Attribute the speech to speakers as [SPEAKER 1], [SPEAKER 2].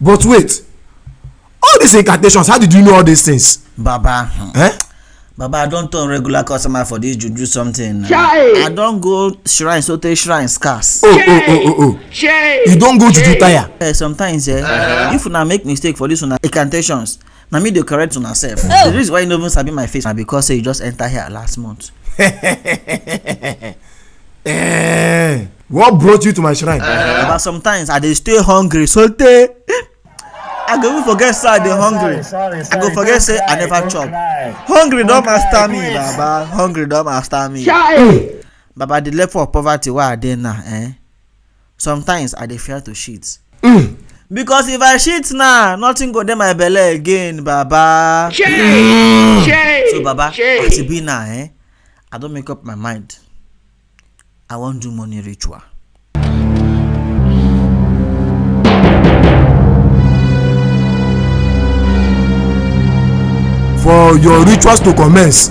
[SPEAKER 1] but wait all these incantations how did you know all these things. baba hmm. eh? baba i don turn regular customer for this juju something Chai. i don go shrine so sotey shrine scarce. oh oh oh oh oh Chai. you don go juju tire. Uh, sometimes eh, uh -huh. if una make mistake for this una incantations na me dey correct una sef oh. the reason why you no even sabi my face na because say you just enter here last month. eh, what brought you to my shrine. Uh, but sometimes i dey stay hungry so tey i go even forget say i dey hungry sorry, sorry, sorry, i go forget say i never chop hungry don master me baba hungry don master me. baba the level of poverty wey i dey now eh, sometimes i dey fear to shit mm. because if i shit now nothing go dey my belle again baba mm. so baba as e be now eh i don make up my mind i wan do money ritual for your rituals to commence